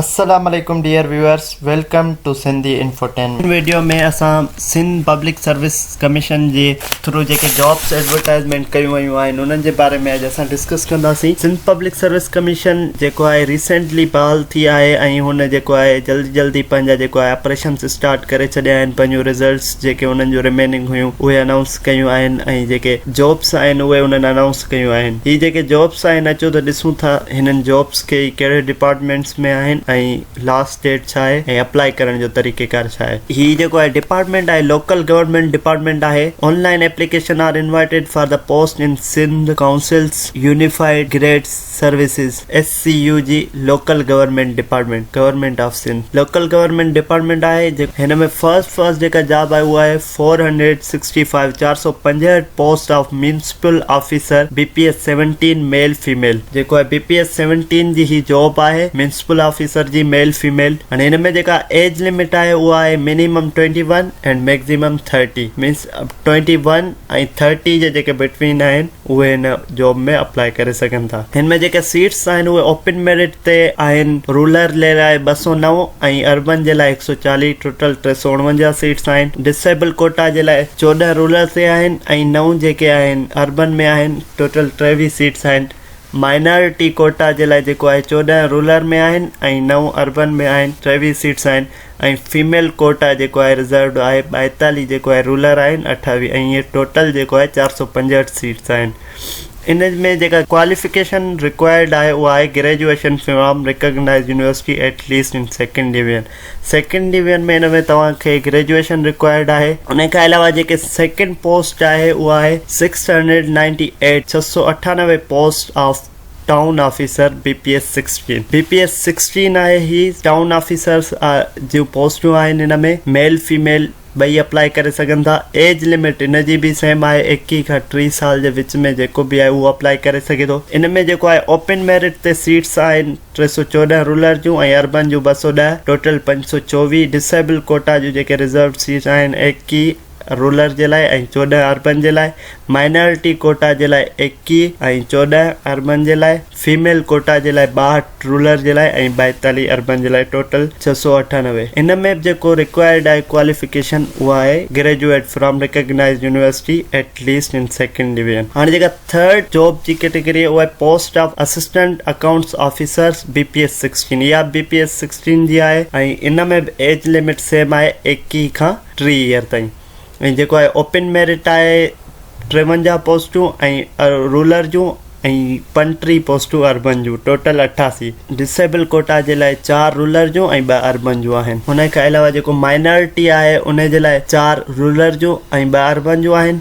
السلام عليڪم dear viewers welcome to Sindhi infotainment in video ۾ اسان سنڌ پبلڪ سروس ڪميشن جي ٿرو جيڪي جابس ايڊورٽائزمينٽ ڪيون ويون آهن انهن جي باري ۾ اڄ اسان ڊسڪس ڪنداسين سنڌ پبلڪ سروس ڪميشن جيڪو آهي ريسينٽلي بحال ٿي آهي ۽ هن جيڪو آهي جلدي جلدي پنهنجا جيڪو آهي آپريشنس اسٽارٽ ڪري ڇڏيا آهن پنهنجو رزلٽس جيڪي انهن جون رميننگ هيون اهي انائونس ڪيون آهن ۽ جيڪي جابس آهن اهي انهن انائونس ڪيون آهن هي جيڪي جابس آهن اچو ته ڏسون ٿا هنن جابس ڪي ڪهڙي ڊپارٽمينٽس ۾ آهن ۽ لاسٽ ڊيٽ ڇا آهي ۽ اپلائي ڪرڻ جو طريقي ڪار ڇا آهي. هي جيڪو آهي ڊپارٽمينٽ آهي لوڪل گورنمينٽ ڊپارٽمينٽ آهي online application are invited for the post in Sindh councils unified grade services S C U G local government department government of Sindh local government department آهي جيڪو هن ۾ فرسٽ فرسٽ جيڪا job آهي اهو آهي four hundred sixty five, چار سؤ پنجهٺ، post of municipal officer, B P S seventeen, male female, جيڪو آهي بي پي ايس سيونٽين جي هي جاب آهي ميونسپل آفيسر جي ميل فيميل هاڻي هن ۾ جيڪا ايج لمٽ آهي اها آهي minimum twenty one and maximum thirty minus twenty one ۽ thirty جي جيڪي بٽوين آهن اهي هن جاب ۾ اپلائي ڪري سگهن ٿا هن ۾ جيڪي سيٽس آهن اهي اوپن ميرٽ تي آهن رولر جي لاء ٻه سؤ نو ۽ اربن جي لاء هڪ سؤ چاليهه ٽوٽل ٽي سؤ اڻونجاهه سيٽس آهن ڊسيبل ڪوٽا جي لاء چوڏهن رولر تي آهن ۽ نو جيڪي آهن اربن ۾ آهن ٽوٽل ٽيويهه سيٽس آهن مائنارٽي ڪوٽا جي لاء جيڪو آهي چوڏهن رولر ۾ آهن ۽ نو اربن ۾ آهن ٽيويهه سيٽس آهن ۽ فيميل ڪوٽا جيڪو آهي رزروڊ آهي 42 جيڪو آهي رولر آهن 28 ۽ هي ٽوٽل جيڪو آهي 465 سيٽس آهن ان ۾ جيڪا ڪواليفڪيشن رڪوائرڊ آهي اها آهي graduation from recognise university at least in second division second division ۾ ان ۾ توهان کي گريجوئيشن رڪوائرڊ آهي ان کان علاوه جيڪي سيڪنڊ پوسٽ آهي اها آهي 698 698 post of town officer B P S sixteen B P S sixteen آهي هي ٽائون آفيسرس جون پوسٽون آهن هن ۾ ميل فيميل ٻئي اپلائي ڪري سگهن ٿا ايج لمٽ هن جي به سيم آهي ايڪيهه کان ٽيهه سال جي وچ ۾ جيڪو به آهي اهو اپلائي ڪري سگهي ٿو ان ۾ جيڪو آهي اوپن ميرٽ تي سيٽس آهن ٽي سو چوڏهن رولر جون ۽ اربن جون ٻه سو ڏهه ٽوٽل پنج سو چوويهه ڊسيبل ڪوٽا جون جيڪي رزروڊ سيٽ آهن ايڪيهه رولر جي لاء ۽ چوڏهن اربن جي لاء مائنارٽي ڪوٽا جي لاء ايڪيهه ۽ چوڏهن اربن جي لاء فيميل ڪوٽا جي لاء ٻاهٺ رولر جي لاء ۽ ٻائيتاليهه اربن جي لاء ٽوٽل ڇهه سؤ اٺانوي ان ۾ جيڪو رڪوائرڊ آهي ڪواليفڪيشن اها آهي graduate from recognised university at least in second division هاڻي جيڪا ٿرڊ جاب جي ڪيٽيگري اها آهي post of assistant accounts officers B P S sixteen اها بي پي ايس سڪسٽين جي آهي ۽ ان ۾ به ايج لمٽ سيم آهي ايڪيهه کان ٽي يير تائين ۽ جيڪو آهي اوپن ميرٽ آهي ٽيونجاهه پوسٽون ۽ رولر جون ۽ پنٽيهه پوسٽون اربن جون ٽوٽل اٺاسي ڊسيبل ڪوٽا جي لاء چار رولر جون ۽ ٻه اربن جون آهن ان کان علاوه جيڪو مائنارٽي آهي ان جي لاء چار رولر جون ۽ ٻه اربن جون آهن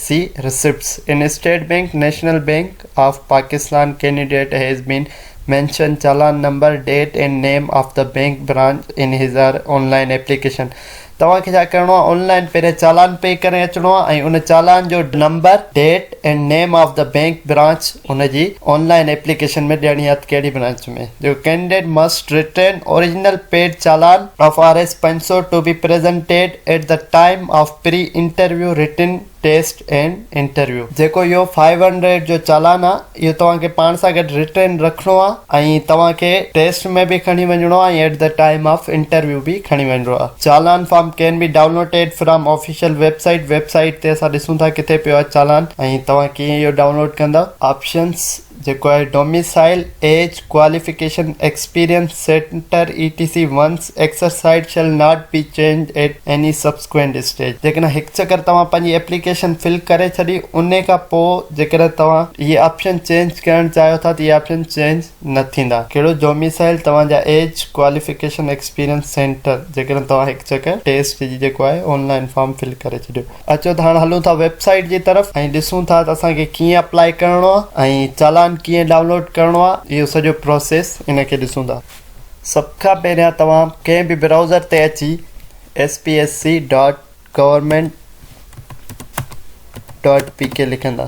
see receipts in state bank national bank of Pakistan candidate has been mentioned challan number date and name of the bank branch in his or online application توهان کي ڇا ڪرڻو آهي آن لائن پهرين چالان پي ڪري اچڻو آهي ۽ ان چالان جو number date and name of the bank branch ان جي آن لائن ايپليڪيشن ۾ ڏيڻي آهي ته ڪهڙي برانچ ۾ جو candidate must return original paid challan of R S پنج سؤ to be presented At the time of pre-interview written test and interview جيڪو اهو فائيو هنڊريڊ جو چالان آهي اهو توهان کي پاڻ سان گڏ رٽن رکڻو آهي ۽ توهان کي ٽيسٽ ۾ به کڻي وڃڻو آهي ۽ At the time of interview به کڻي وڃڻو آهي challan form can be downloaded from official website website تي اسان ڏسون ٿا ڪٿي پيو آهي چالان ۽ توهان ڪيئن اهو ڊائونلوڊ ڪندا آپشنس جيڪو آهي domicile age qualification experience centre A T C once exercised shall not be changed at any subsequent stage جيڪڏهن هڪ چڪر توهان پنهنجي ايپليڪيشن فل ڪري ڇڏي ان کان پوء جيڪڏهن توهان اهي آپشن چينج ڪرڻ چاهيو ٿا ته اهي آپشن چينج نه ٿيندا ڪهڙو ڊوميسائيل توهان جا ايج ڪواليفڪيشن ايڪسپيرينس سينٽر جيڪڏهن توهان هڪ چڪر ٽيسٽ جي جيڪو آهي آن لائن فارم فل ڪري ڇڏيو اچو ته هاڻ هلون ٿا ويب سائيٽ جي طرف ۽ ڏسون ٿا ته اسان کي ڪيئن اپلائي ڪرڻو آهي ۽ چالان ڪيئن ڊائونلوڊ ڪرڻو آهي اهو سڄو پروسيس ان کي ڏسون ٿا سڀ کان پهريان توهان ڪنهن به براوزر تي اچي S P S C dot government dot P K لکندا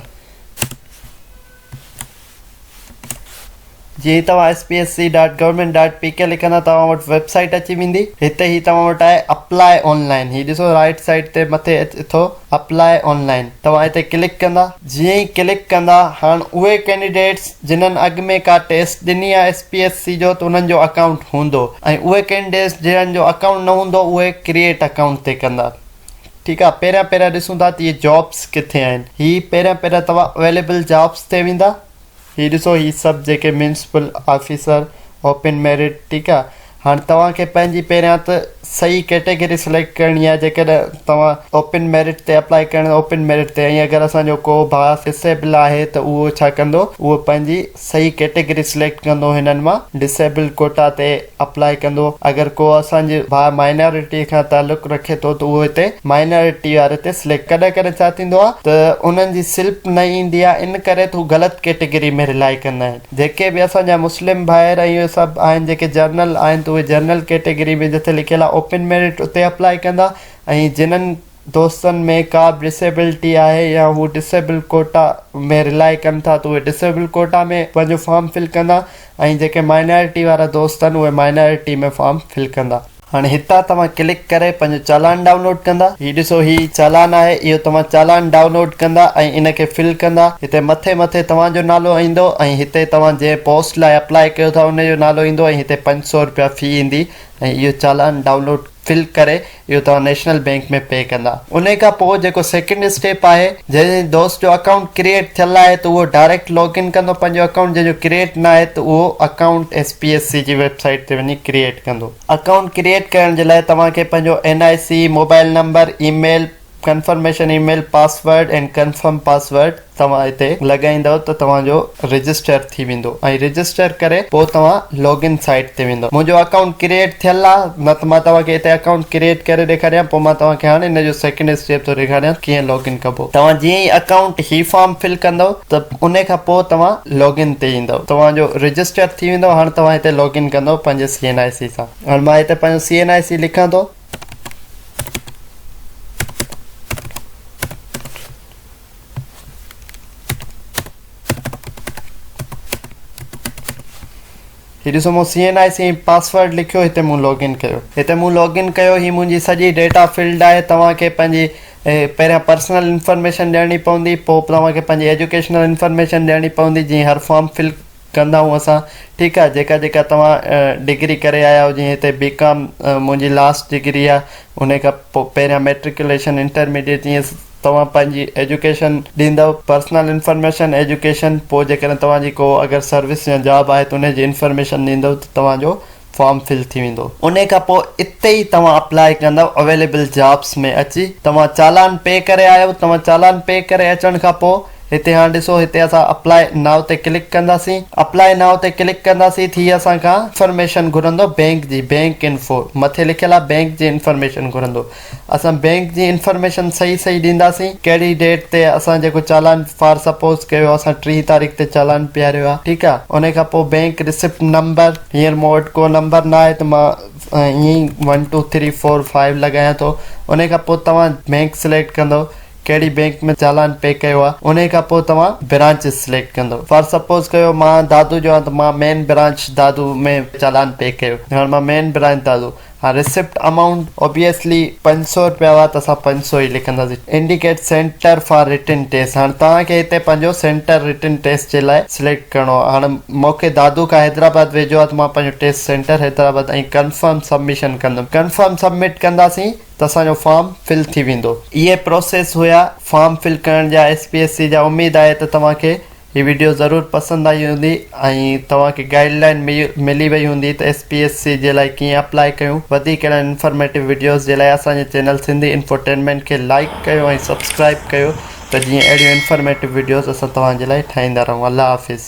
جي توهان S P S C dot government dot P K لکندا توهان وٽ ويب سائيٽ اچي ويندي هتي هي توهان وٽ آهي اپلاء آن لائن هي ڏسو رائيٽ سائيڊ تي مٿي اٿو اپلاء آن لائن توهان هتي ڪلڪ ڪندا جيئن ئي ڪلڪ ڪندا هاڻ اهي ڪينڊيڊيٽس جنهن اڳ ۾ ڪا ٽيسٽ ڏني آهي ايس پي ايس سي جو ته انهن جو اڪائونٽ هوندو ۽ اهي ڪينڊيڊيٽس جنهن جو اڪائونٽ نه هوندو اهي ڪرييٽ اڪائونٽ تي ڪندا ٺيڪ آ پهريان پهريان ڏسون ٿا ته اهي جابس ڪٿي آهن هي پهريان پهريان توهان اويليبل جابس تي ويندا هي ڏسو هي سڀ جيڪي ميونسپل آفيسر اوپن ميرٽ ٺيڪ آ هاڻي توهان کي پنهنجي پهريان ته صحيح ڪيٽيگري سليڪٽ ڪرڻي آهي جيڪڏهن توهان اوپن ميرٽ تي اپلائي ڪرڻ اوپن ميرٽ تي ۽ اگر اسان جو ڪو ڀاء ڊسيبل آهي ته اهو ڇا ڪندو اهو پنهنجي صحيح ڪيٽيگري سليڪٽ ڪندو هنن مان ڊسيبل ڪوٽا تي اپلائي ڪندو اگر ڪو اسان جي ڀاء مائنارٽي کان تعلق رکي ٿو ته اهو هتي مائنارٽي واري تي سليڪٽ ڪڏهن ڪڏهن ڇا ٿيندو آهي ته انهن جي سلپ نه ايندي آهي ان ڪري هو غلط ڪيٽيگري ۾ رلائي ڪندا آهن جيڪي به اسان جا مسلم ڀائر ۽ اهي سڀ آهن جيڪي جرنل آهن ته اهي جرنل ڪيٽيگري ۾ جتي لکيل آهي اوپن ميرٽ اتي اپلائي ڪندا ۽ جنهن دوستن ۾ ڪا به ڊسيبلٽي آهي يا هو ڊسيبل ڪوٽا ۾ رلاء ڪن ٿا ته اهي ڊسيبل ڪوٽا ۾ پنهنجو فارم فل ڪندا ۽ جيڪي مائنارٽي وارا دوست آهن اهي مائنارٽي ۾ فارم فل ڪندا. هاڻي هتان توهان ڪلڪ ڪري پنهنجو چالان ڊائونلوڊ ڪندا. هي ڏسو هي چالان آهي اهو توهان چالان ڊائونلوڊ ڪندا ۽ ان کي فل ڪندا. هتي مٿي مٿي توهان جو نالو ايندو ۽ هتي توهان جنهن پوسٽ لاء اپلاء ڪيو ٿا ان جو نالو ايندو ۽ هتي پنج سؤ رپيا في ايندي ۽ اهو چالان ڊائونلوڊ فل ڪري اهو توهان نيشنل بينڪ ۾ پي ڪندا انهي کان پوء جيڪو سيڪنڊ اسٽيپ آهي جنهن جي دوست جو اڪائونٽ ڪريئيٽ ٿيل آهي ته اهو ڊائريڪٽ لاگ ان ڪندو پنهنجو اڪائونٽ جنهن جو ڪريئيٽ نه آهي ته اهو account S P S C جي ويب سائيٽ تي وڃي ڪريئيٽ ڪندو اڪائونٽ ڪريئيٽ ڪرڻ جي لاء توهان کي پنهنجو N I C mobile number email confirmation email password ۽ confirm password توهان هتي لڳائيندؤ ته توهان جو رجسٽر ٿي ويندو ۽ رجسٽر ڪري پوء توهان لاگ ان سائيٽ تي ويندؤ منهنجو اڪائونٽ ڪريئيٽ ٿيل آهي نه ته مان توهان کي هتي اڪائونٽ ڪريئيٽ ڪري ڏيکاريان پوء مان توهان کي هاڻي هن جو سيڪنڊ اسٽيپ ٿو ڏيکاريان ڪيئن لاگ ان ڪبو توهان جيئن ئي اڪائونٽ هي فارم فل ڪندؤ ته ان کان پوء توهان لاگ ان تي ايندؤ توهان جو رجسٽر ٿي ويندؤ هاڻ توهان هتي لاگ ان ڪندؤ پنهنجي سي اين آء سي سان هاڻ مان هتي پنهنجو سي اين آء سي لکان ٿو هي ڏسو مون C N I C password لکيو هتي مون لاگ ان ڪيو هتي مون لاگ ان ڪيو هي منهنجي سڄي ڊيٽا فيلڊ آهي توهان کي پنهنجي پهريان پرسنل انفارميشن ڏيڻي پوندي پوء توهان کي پنهنجي ايجوڪيشنل انفارميشن ڏيڻي پوندي جيئن هر فارم فل ڪندائون اسان ٺيڪ آ جيڪا جيڪا توهان ڊگري ڪري آيا آهيو جيئن هتي بي ڪام منهنجي لاس ڊگري آ انهي کان پو پهريان ميٽرڪيوليشن انٽرميڊيٽ جيئن توهان پنهنجي ايجوڪيشن ڏيندؤ پرسنل انفرميشن ايجوڪيشن پو جيڪڏهن توهان جي ڪو اگر سروس يا جاب آهي ته انهي جي انفرميشن ڏيندؤ ته توهان جو فارم فل ٿي ويندو انهي کان پوء اتي ئي توهان اپلائي ڪندؤ اويليبل جابس ۾ اچي توهان چالان پي ڪري آيو توهان چالان پي ڪري اچڻ کان پوء هتي هاڻ ڏسو هتي اسان اپلائي نائو تي ڪلڪ ڪنداسين اپلائي نائو تي ڪلڪ ڪنداسين ٿي اسان کان انفارميشن گهرندو بينڪ جي بينڪ انفو مٿي لکيل آهي بينڪ جي انفارميشن گهرندو اسان بينڪ جي انفارميشن صحيح صحيح ڏينداسين ڪهڙي ڊيٽ تي اسان جيڪو چالان فار سپوز ڪيو اسان ٽيهه تاريخ تي چالان پياريو آ ٺيڪ آ انهي کان پوء بينڪ رسيپٽ نمبر هينئر مون وٽ ڪو نمبر نه آهي ته مان ائين ئي one two three four five لڳايان ٿو انهي کان پوء توهان بينڪ سليڪٽ ڪندو ڪهڙي بينڪ ۾ چالان پي ڪيو آ انهي کان پوء توهان برانچ سليڪٽ ڪندو فار سپوز ڪيو مان دادو جو آهيان ته مان مين برانچ دادو ۾ چالان پي ڪيو هاڻ مان مين برانچ دادو ها ريسپٽ امائونٽ اوبيسلي پنج سؤ رپيا هئا ته اسان پنج سؤ ئي لکنداسين indicate centre for written test هاڻي توهان کي هتي پنهنجو سينٽر رٽن ٽيسٽ جي لاء سليڪٽ ڪرڻو آهي هاڻي مونکي دادو کان حيدرآباد ويجهو آهي ته مان پنهنجو test centre Hyderabad ۽ confirm submission ڪندم ڪنفرم سبمٽ ڪنداسين ته اسان جو فارم فل ٿي ويندو اهي پروسيس هيا فارم فل ڪرڻ جا ايس پي ايس سي جا اميد آهي ته توهان کي هي وڊيو ضرور پسند آئي هوندي ۽ توهان کي گائيڊ لائين ملي وئي هوندي ته ايس پي ايس سي جي لاء ڪيئن اپلائي ڪيون وڌيڪ اهڙن انفارميٽو وڊيوز جي لاء اسان جي چينل سنڌي انفوٽينمينٽ کي لائيڪ ڪيو ۽ سبسڪرائيب ڪيو ته جيئن اهڙيون انفارميٽو وڊيوز اسان توهان جي لاء ٺاهيندا رهون الله حافظ.